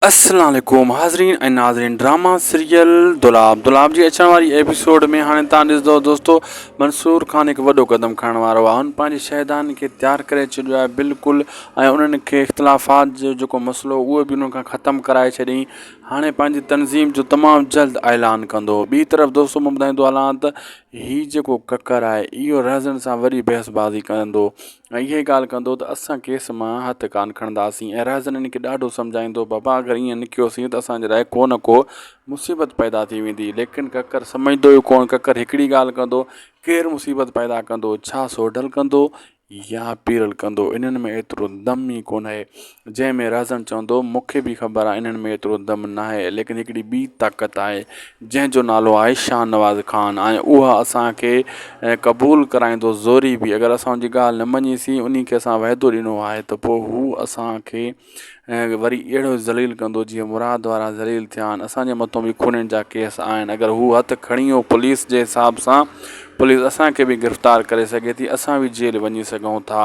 السلام عليڪم حاضرين ۽ ناظرين ڊراما سيريل دولاب دولاب جي اچڻ واري ايپيسوڊ ۾ هاڻي توهان ڏسندو دوستو منصور خان هڪ وڏو قدم کڻڻ وارو آهي هن پنهنجي شهدان کي تيار ڪري ڇڏيو آهي بلڪل ۽ انهن کي اختلافات جو جيڪو مسئلو اهو به انهن کان ختم ڪرائي ڇڏيائين هاڻي پنهنجي تنظيم جو تمام جلد اعلان ڪندو ٻي طرف دوستو مان ٻڌائيندو هلان ته هي جيڪو ڪڪر آهي اهو رهزن سان وڏي بحث بازي ڪندو ۽ اهي ڳالهه ڪندو ته اسان کيس مان هٿ ڪانه کڻنداسين ۽ رهزن ان کي ڏاڍو سمجهائيندو بابا اگر ائين نه ڪيوسين ته اسان جي لاء ڪو نه ڪو مصيبت پيدا ٿي ويندي ليڪن ڪڪر سمجهندو ئي ڪونه ڪڪر هڪڙي ڳالهه ڪندو ڪير مصيبت پيدا ڪندو ڇا سوڍل ڪندو يا پيرل ڪندو انهن ۾ ايترو دم ئي ڪونه جنهن ۾ رهزن چوندو، مون کي به خبر آهي انهن ۾ ايترو دم ناهي، ليڪن هڪڙي ٻي طاقت آهي، جنهن جو نالو آهي شاهنواز خان ۽ اها اسان کي قبول ڪرائيندو زوري به اگر اسان ان جي ڳالهه نه مڃي سي، انهي کي اسان وعدو ڏنو آهي ته پوء هو اسان کي وري اهڙو ئي ذليل ڪندو جيئن مراد وارا ذليل ٿيا آهن، اسان جي مٿو به خونين جا ڪيس آهن، اگر هو هٿ کڻي ويو پوليس جي حساب سان، پوليس اسان کي به گرفتار ڪري سگهي ٿي، اسان به جيل وڃي سگهون ٿا.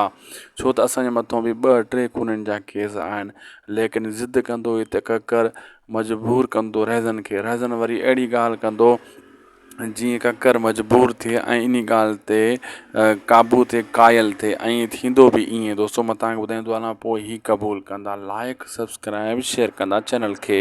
ڇو ته اسان جي مٿو به ٻه ٽي خونين جا ڪيس آهن ليڪن ضد ڪندو هي ته ڪڪر مجبور ڪندو رهزن کي رهزن وري اهڙي ڳالهه ڪندو جيئن ڪڪر مجبور ٿئي ۽ انهي ڳالهه تي قابو تي قائل ٿئي ۽ ٿيندو به ائين دوستو مان تان ٻڌائيندو هلان پوء هي قبول ڪندا لائڪ سبسڪرائب شيئر ڪندا چينل کي